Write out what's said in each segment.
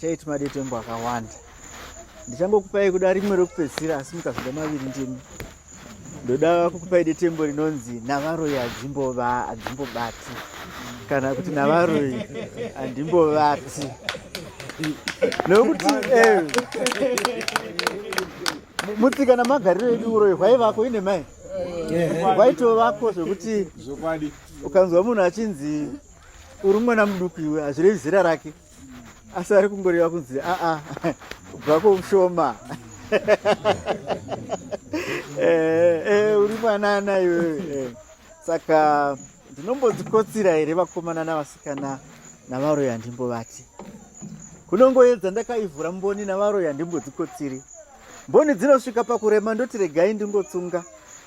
Tate madetembo akawanda ndichangokupai kuda rimwe rekupedzisira asi mukazvida maviri ndimi ndoda kukupai detembo rinonzi navaroi hadzimbova hadzimbobati kana kuti navaroi handimbovati nokuti eh, mutsika namagariro edu uroyi hwaivako ine mai hwaitovako zvekuti ukanzwa munhu achinzi uri mwana muduku iwe hazvirevi zera rake asi ari kungoreva kunzi aa kubva kweushoma eh, eh, uri mwanana iwewe eh. saka ndinombodzikotsira here vakomana navasikana navaroyi handimbovati kunongoedza ndakaivhura mboni navaroyi handimbodzikotsiri mboni dzinosvika pakurema ndoti regai ndingotsunga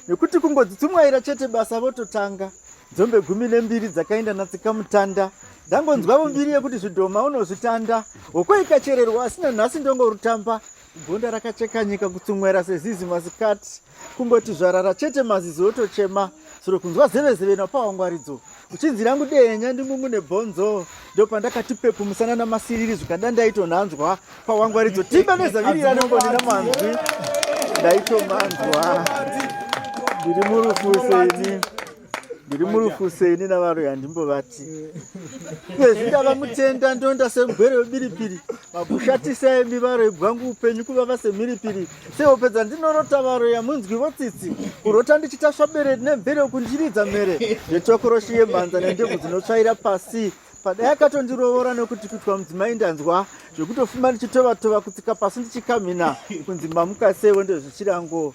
nekuti kungodzitsumwaira chete basa vototanga dzombe gumi nembiri dzakaenda natsikamutanda ndangonzwavo mbiri yekuti zvidhoma unozvitanda hoko ikachererwa asina nhasi ndongorutamba gonda rakacheka nyika kutsumwera sezizi masikati kungoti zvarara chete mazizi otochema suro kunzwa zevezeve napawangwaridzo uchinzi rangu dehenya ndingungu nebhonzo ndo pandakati pepu musana namasiriri zvikada ndaitonhanzwa pawangwaridzo timba nezavirira nembonina manzwi ndaitomanzwa ndiri murufu seini ndiri murufu seni navaroyi handimbovati iyezvi ndava mutenda ndonda semugwere webiripiri makushatisa emi varoyi bwangu upenyu kuvava semhiripiri sehope dzandinorota varoyi amunzwi votsitsi kurota ndichitasva bere nemvere kundiridza mhere zvetsvakoroshi yemhanza nendebvu dzinotsvaira pasi padai akatondirovora nekuti kuitwa mudzimai ndanzwa zvekutofuma ndichitovatova kutsika pasi ndichikamhina kunzi mamuka seiwo ndezvichirango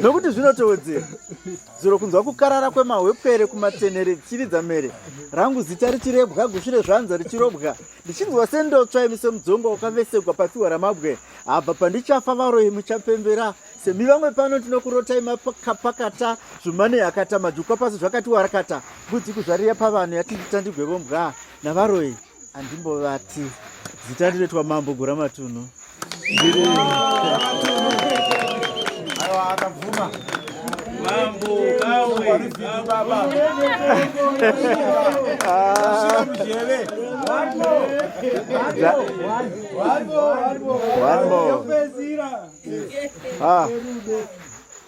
nokuti zvinotowedzera zuro kunzwa kukarara kwemahwepwere kumatenere dzichiridza mere rangu zita richirebwa gusvi rezvanza richirobwa ndichinzwa sendotsva imi semudzonga wakavesekwa pafiwa ramabwe abva pandichafa varoyi muchapembera semi vamwe pano tinokurotai makapakata zvumane yakata majukwa pasi zvakati warakata mbudzi kuzvariya pavanhu yatindita ndigwevombwa navaroyi Andimbovati zita rinoitwa Mambo Gura Matunhu. Ndiri Aiwa akabvuma. Mambo kawe baba. Ah. One more. One more. One more. Ah.